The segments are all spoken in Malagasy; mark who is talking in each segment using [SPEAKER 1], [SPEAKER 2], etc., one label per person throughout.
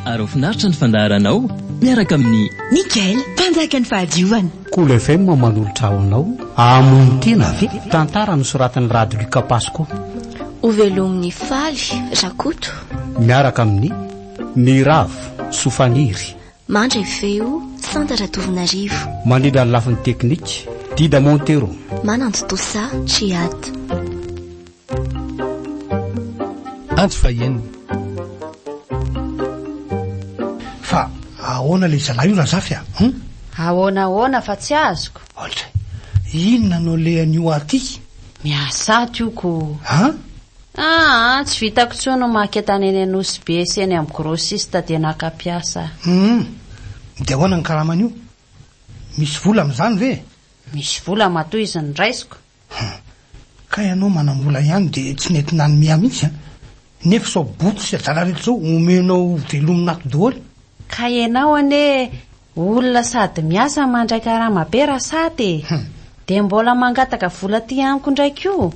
[SPEAKER 1] Ary ho finaritra ny fandaharanao miaraka amin'ny. Nickel, mpanjaka
[SPEAKER 2] ny fahadiovana. Cool FM
[SPEAKER 3] manolotra ho anao Hamono tena ve? Tantara nosoratan'i Rado Luca Pasco. Hovelomin'i
[SPEAKER 4] Faly Rakoto. Miaraka amin'ny,
[SPEAKER 3] Miravo Sofaniry. Mandre
[SPEAKER 4] feo, Santa Ratovonarivo. Mandrindra ny lafiny
[SPEAKER 3] teknika, Dida Montero. Manantotosa,
[SPEAKER 4] Chiad.
[SPEAKER 5] Antso faheno.
[SPEAKER 6] Fa ahoana ilay zalahy io Razafy a? Hum? Ahoana
[SPEAKER 7] ahoana fa tsy azoko. Oltray.
[SPEAKER 6] Inona no lehan'io aty ity? Miasa
[SPEAKER 7] aty io ko. An? Aa, tsy vitako intsony ny maka entana eny Anosy Be sy eny amin'ny grossiste dia naka mpiasa aho. Hum.
[SPEAKER 6] Dia ahoana ny karaman'io? Misy vola amin'izany ve? Misy vola
[SPEAKER 7] matoa izy no raisiko. Hum.
[SPEAKER 6] Kay anao manambola ihany dia tsy nety nanomea mihitsy an! Nefa sao boto sy adala reto zao omenao ho velomina ato doholy? Kay enao
[SPEAKER 7] anie olona sady miasa no mandray karama be ra sat e! Dia mbola mangataka vola aty amiko indray koa?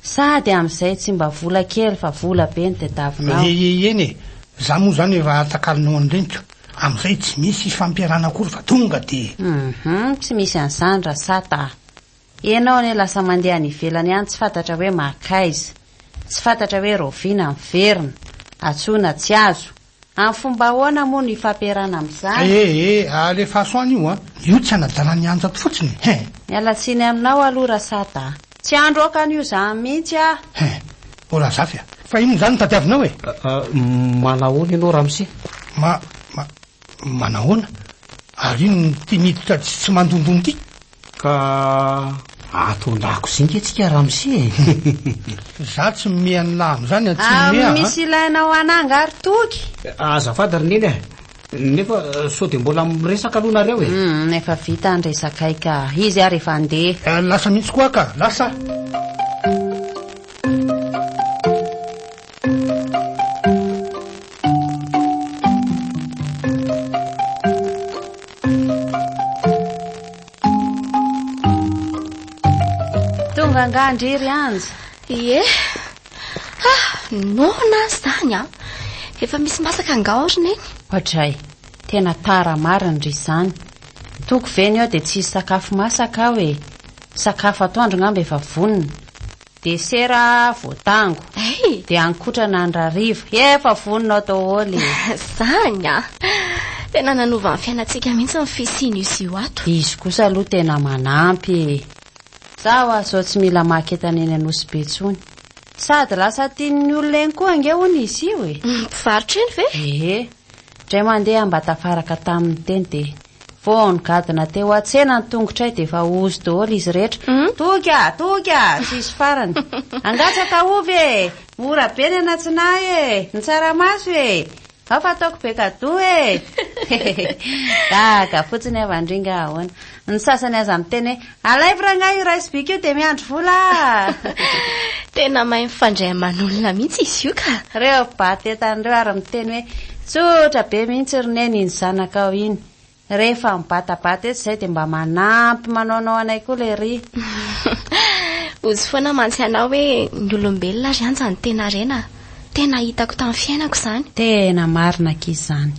[SPEAKER 7] Sady amin'izay tsy mba vola kely fa vola be no tadiavinao. Eeheen e!
[SPEAKER 6] Za moa zany raha takalonao an'i reniko amin'izay tsy misy ifampiarahana akory fa tonga dia. Hum. Tsy misy
[SPEAKER 7] an'izany ra sat a! Ianao anie lasa mandeha any ivelany any tsy fantatra hoe maka aiza. Tsy fantatra hoe raoviana miverina. Antsoina tsy azo. Amin'ny fomba ahoana moa no ifampiarahana amin'izany? Ee ee alefaso any io
[SPEAKER 6] an! Io tsy anadalan'i Anja fotsiny hein! Miala tsiny
[SPEAKER 7] aminao aloha Rasata a! Tsy handro aoka an'io zany mihitsy aho! Hein! O
[SPEAKER 6] Razafy a! Fa inona izany no tadiavinao e? Aa
[SPEAKER 3] manahoana ianao Ramose? Ma ma
[SPEAKER 6] manahoana? Ary iny tia miditra tsy tsy mandondona ity? Ka
[SPEAKER 3] ato an-dakozia nge tsika ramose e!
[SPEAKER 6] Za tsy mimehy an'lah am'zany an, tsy mimehy an! Misy ilainao
[SPEAKER 7] hananga ary Toky? Azafady ry Neny
[SPEAKER 3] a! Nefa sao dia mbola miresaka aloha nareo e! Humm efa vita
[SPEAKER 7] ny resakay ka! Izy ary efa handeha! Lasa mihitsy koa aho ka!
[SPEAKER 6] Lasa!
[SPEAKER 7] Tonga angaha ndry ry Anja? Ie. Ah,
[SPEAKER 4] noana azy zany a. Efa misy masaka angaha ao ry neny? Ohatray.
[SPEAKER 7] Tena tara marina ry izany. Toko ve ny eo dia tsy hisy sakafo masaka aho e. Sakafo atoandro ngamba efa vonona. Desera voatango. Hey! Dia ankotrana andrarivo. Efa vonona ao daholo e. Zany a!
[SPEAKER 4] Tena nanova ny fiainantsika mihitsy ny fisian'io io ato. Izy kosa aloha tena
[SPEAKER 7] manampy e. Za hoa zao tsy mila maka entana eny Anosy be tsony. Sady lasa tian'ny olona eny koa ange hono izy io e. Mpivarotra eny ve?
[SPEAKER 4] Ee. Ndray mandeha
[SPEAKER 7] mba tafaraka taminy teny dia. Vao nigadona teo an-tsena ny tongotray dia efa ozy daholo izy rehetra. Toky a! Toky a! Tsisy farany. Hangatsaka ovy e! Mora be ny an'atsinahy e! Ny tsaramaso e! Ao fa ataoko be kadoa e! Hehehe! Gaga fotsiny havan-dringa ahoana. Ny sasany aza miteny hoe. Alaivo rangahy io rice beak io dia miandry vola ah! Tena
[SPEAKER 4] mahay mifandray aman'olona mihitsy izy io ka. Reo bata entana
[SPEAKER 7] reo ary miteny hoe tsotra be mihitsy ry neny iny zanakao iny. Rehefa mibatabata etsy izay dia mba manampy manaonao anay koa lery.
[SPEAKER 4] Ozy foana mantsy ianao hoe ny olombelona ary anja ny tena rena. Tena hitako tamin'ny fiainako izany. Tena marina
[SPEAKER 7] akia izany.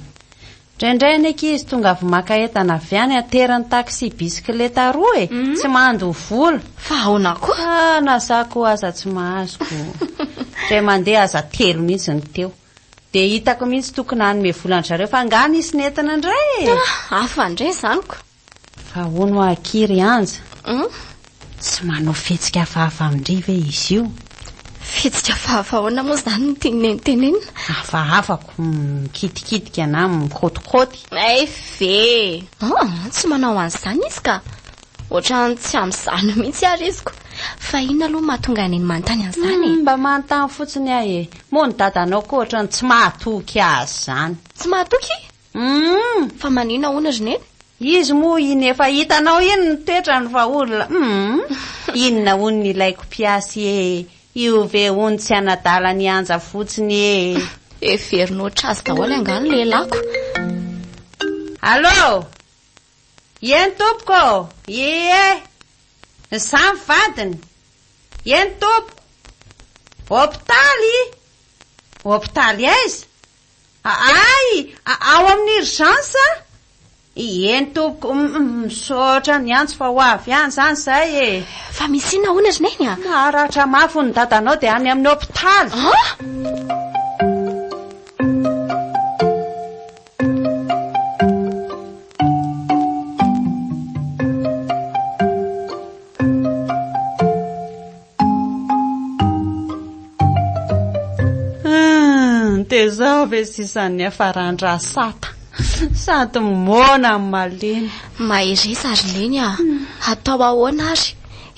[SPEAKER 7] Ndraindray ny ankizy tonga avy maka entana avy any aterany taxi bisikileta roa e! Tsy mandoa vola. Fa aona koa?
[SPEAKER 4] Fa na za koa aza tsy
[SPEAKER 7] mahazo ko. Dray mandeha aza telo mihitsy ny teo. Dia hitako mihitsy tokony hanome vola an-dry zareo fa angaha nisy nentina indray e! Hafa indray
[SPEAKER 4] izany ko! Fa ahoana
[SPEAKER 7] hoa akia ry Anja? Tsy manao fihetsika hafahafa amin-dry ve izy io? Fihetsika
[SPEAKER 4] hafahafa ahoana moa izany no tian'i Neny tenenina? Hafahafa ko
[SPEAKER 7] mikitikitika na mikôtikôty. Hay ve!
[SPEAKER 4] Tsy manao an'izany izy ka! Ohatran'ny tsy amin'izany mihitsy ary izy ko! Fa inona aloha no mahatonga an'i Neny manontany an'izany e? Mba manontany
[SPEAKER 7] fotsiny aho e! Moa ny dadanao koa ohatran'ny tsy mahatoky azy izany? Tsy mahatoky?
[SPEAKER 4] Humm fa manina hono ry neny? Izy moa iny
[SPEAKER 7] efa hitanao iny ny toetrany fa olona humm inona hono ny ilaiko mpiasy e io ve hono tsy anadala ny anja fotsiny e. Heveriny
[SPEAKER 4] ohatrazy daholo angaha ny lehilahiko. Allô?
[SPEAKER 7] Ieny tompoko ô! Ie! Za ny vadiny! Ieny tompoko! Hopitaly? Hopitaly aiza? Aay! Ao amin'ny urgence a? Ieny tompoko, misaotra niantso fa ho avy ihany izany izay e. Fa misy inona hono
[SPEAKER 4] ry Neny a? Naratra mafy hono
[SPEAKER 7] dadanao dia any amin'ny hopitaly. An? Tezao ve sisa ny afarandra sata sady moana amin'ny malemy. Mahereza ary
[SPEAKER 4] neny ah. Hmm. Hatao ahoana ary?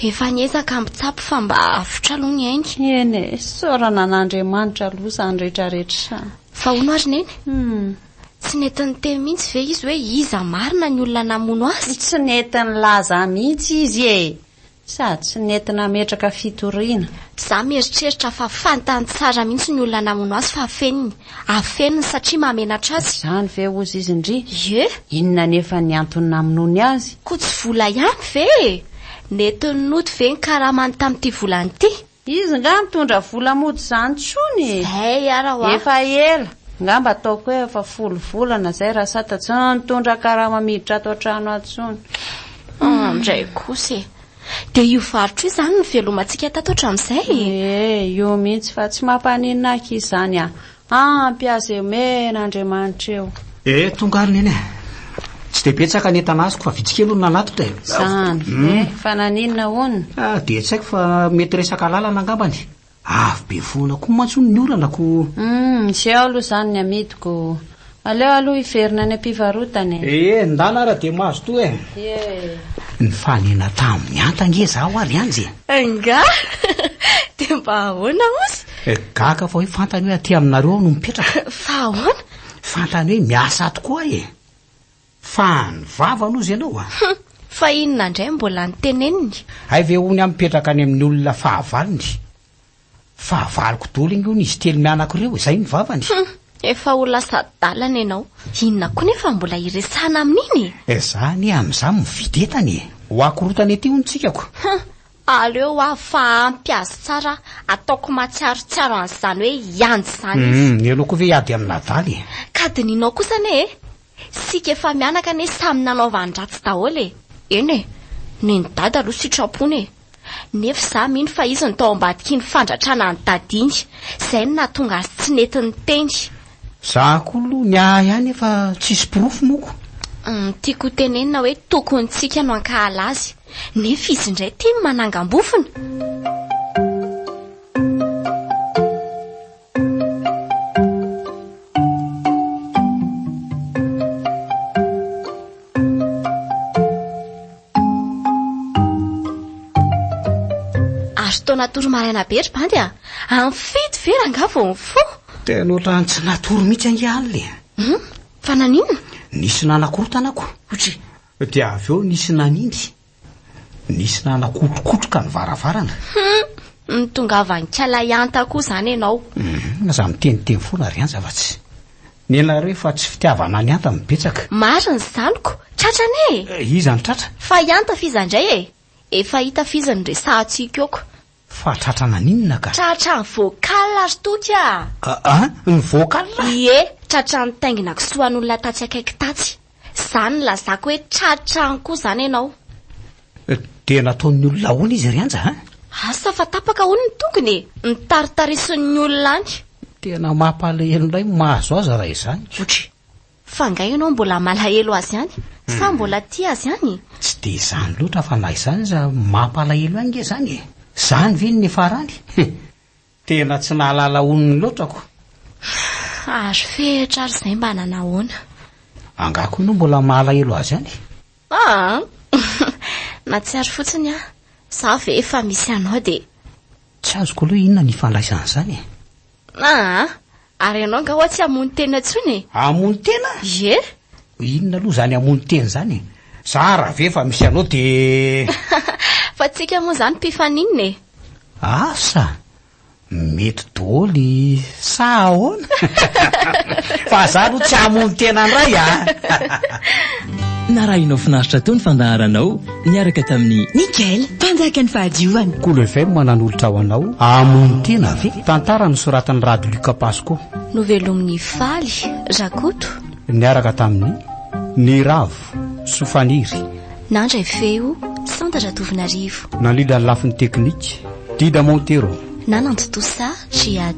[SPEAKER 4] Efa niezaka mitsapy fa mba avotra aloha ny ainy. Eny e, saorana
[SPEAKER 7] an'Andriamanitra aloha izany rehetra rehetra izany. Fa hono ary
[SPEAKER 4] neny? Hmm. Tsy nety niteny mihitsy ve izy hoe iza marina ny olona namono azy? Tsy nety nilaza
[SPEAKER 7] mihitsy izy e. Sady tsy nety nametraka fitoriana. Za mieritreritra
[SPEAKER 4] fa fantany tsara mihitsy ny olona namono azy fa afeniny. Afeniny satria mahamenatra azy. Izany ve hozy izy
[SPEAKER 7] ndry? Ye? Inona
[SPEAKER 4] anefa ny
[SPEAKER 7] antony namonoany azy? Koa tsy vola ihany
[SPEAKER 4] ve e? Nety nody ve ny karamany tamin'ity volana ity? Izy nga mitondra
[SPEAKER 7] vola mody zany tsony e! Zay ara wa!
[SPEAKER 4] Efa ela,
[SPEAKER 7] ngamba ataoko hoe efa folo volana zay Rasata tsy nitondra karama miditra ato an-trano ato tsony. Ah
[SPEAKER 4] ndray kosa e! Dia io varotra io zany nivelomantsika tato hatramin'izay e! Ee, io mihitsy fa
[SPEAKER 7] tsy mampaninona aky izany an! Ampy azy eo men Andriamanitra eo. Eh tonga ary neny eh.
[SPEAKER 3] Tsy dia betsaka ny entana azoko fa vitsy kely hono nanatitra e. Zany hmm. eh fa
[SPEAKER 7] naninona hono? Ah dia tsy haiko fa
[SPEAKER 3] mety resaka lalana angambany. Avy be foana koa mantsy hono ny orana ko. Hmm, tsy ao
[SPEAKER 7] aloha zany ny amidiko. Aleo aloha hiverina any am-pivarotana e! Ee, ndana ary
[SPEAKER 3] dia mazotoa e! Nifanena tamin'ny Anta ange izaho ary Anja e! Ingahy!
[SPEAKER 4] Dia mba ahoana ozy? Gaga fa hoe fantany
[SPEAKER 3] hoe aty aminareo aho no mipetraka. Fa ahoana?
[SPEAKER 4] Fantany hoe
[SPEAKER 3] miasa ato koa aho e! Fa ny vavany ozy ianao a! Hum! Fa inona
[SPEAKER 4] indray mbola noteneniny? Hay ve hono aho
[SPEAKER 3] mipetraka any amin'ny olona fahavalony? Fahavaloko daholo ange hono izy telo mianaka ireo e, izay ny vavany. Hum, efa ho
[SPEAKER 4] lasa adalana ianao. Inona koa nefa mbola hiresahana amin'iny e? Eh, za anie amin'izany
[SPEAKER 3] mividy entana e. Ho akorotana ety hono tsikako. Hum, aleo
[SPEAKER 4] hoa fa ampy azy tsara aho, ataoko matsiarotsiaro an'izany hoe hianjy izany izy. Hum, ianao koa ve hiady amin'ny
[SPEAKER 3] adala e? Ka dinihinao
[SPEAKER 4] kosa anie e! Isika efa mianaka anie samy nanaovan-dratsy daholo e! Eny e, nen'i Dada aloha sitrampony e! Nefa izaho mino fa izy no tao ambadik'iny fandratrana an'i Dada iny. Izay no nahatonga azy tsy nety niteny. Za koa
[SPEAKER 3] aloha ny ahy ihany efa tsisy porofo moko. Ny tiako ho
[SPEAKER 4] tenenina hoe tokony tsika no hankahala azy. Nefa izy indray tia ny manangam-bofona. Azo tao natory maraina be ry bandy a. Amin'ny fito ve rangaha vao mifoha? Tena ohatran'ny tsy
[SPEAKER 3] natory mihitsy ange alina e. Hmm? Fa naninona?
[SPEAKER 4] Nisy nanakorotana
[SPEAKER 3] ko. Dia avy eo nisy nanimby. Nisy nanakotrokotroka ny varavarana. Hum,
[SPEAKER 4] nitongavan-k'ialahy Anta koa izany ianao. Hum, aza miteniteny
[SPEAKER 3] foana ry Anja fa tsy. Nenareo efa tsy fitiavana an'i Anta no betsaka. Marina izaniko,
[SPEAKER 4] tratra anie e! Iza no tratra?
[SPEAKER 3] Fa i Anta f'iza indray
[SPEAKER 4] e? Efa hita f'iza no resahantsika eoko. Fa tratra
[SPEAKER 3] naninona ka? Tratra ny vocal
[SPEAKER 4] ry Toky ah! Aa ny
[SPEAKER 3] vocal ah! Ie, tratra
[SPEAKER 4] ny taingina kisoa an'olona tatsy akaiky tatsy. Zany nilazako hoe tratra any koa zany ianao.
[SPEAKER 3] Dia nataon'ny olona ahoana izy ry Anja an? Asa fa tapaka
[SPEAKER 4] hono ny tongony e! Notaritarisin'ny olona any. Tena mampalahelo
[SPEAKER 3] indray ny mahazo azy raha izany. Otry Fa
[SPEAKER 4] nga ianao mbola malahelo azy ihany? Sa mbola tia azy ihany? Tsy dia izany
[SPEAKER 3] loatra fa na izany aza mampalahelo ahy nge zany e! Zany ve no niafarany? Tena tsy nahalala onony loatra ko!
[SPEAKER 4] Ary fehitra ary izay mba nanahoana? Angaha koa
[SPEAKER 3] ianao mbola mahalahelo azy ihany? Aa!
[SPEAKER 4] Nahatsiaro fotsiny aho. Za ve efa misy anao dia. Tsy azoko
[SPEAKER 3] aloha inona ny ifandraisan'izany e! Aa!
[SPEAKER 4] Ary ianao nga hoa tsy hamono tena tsony e! Hamono tena?
[SPEAKER 3] Ie!
[SPEAKER 4] Inona aloha
[SPEAKER 3] zany hamono tena zany e? Za ra ve efa misy anao de. Fa
[SPEAKER 4] tsika moa zany mpifaninona e! Asa!
[SPEAKER 3] Mety doly sa ahoana? Fa za aloha tsy hamono tena ndray a! Narahinao
[SPEAKER 1] finaritra toa ny fandaharanao. niaraka tamin'i. Mickael, mpanjaka
[SPEAKER 2] ny fahadiovana. Kolo FM nanolotra
[SPEAKER 3] ho anao Hamono tena ve? Tantara nosoratan'i Rado Luc Pasco.
[SPEAKER 4] Novelomin'i Faly Rakoto. Niaraka
[SPEAKER 3] tamin'i. Ny Ravo sy Faniry. Nandray
[SPEAKER 4] feo, Santa Ratovinarivo. Nandrindra
[SPEAKER 3] ny lafiny
[SPEAKER 4] teknika,
[SPEAKER 3] Dida Montero. Nanantontosa, Jihad.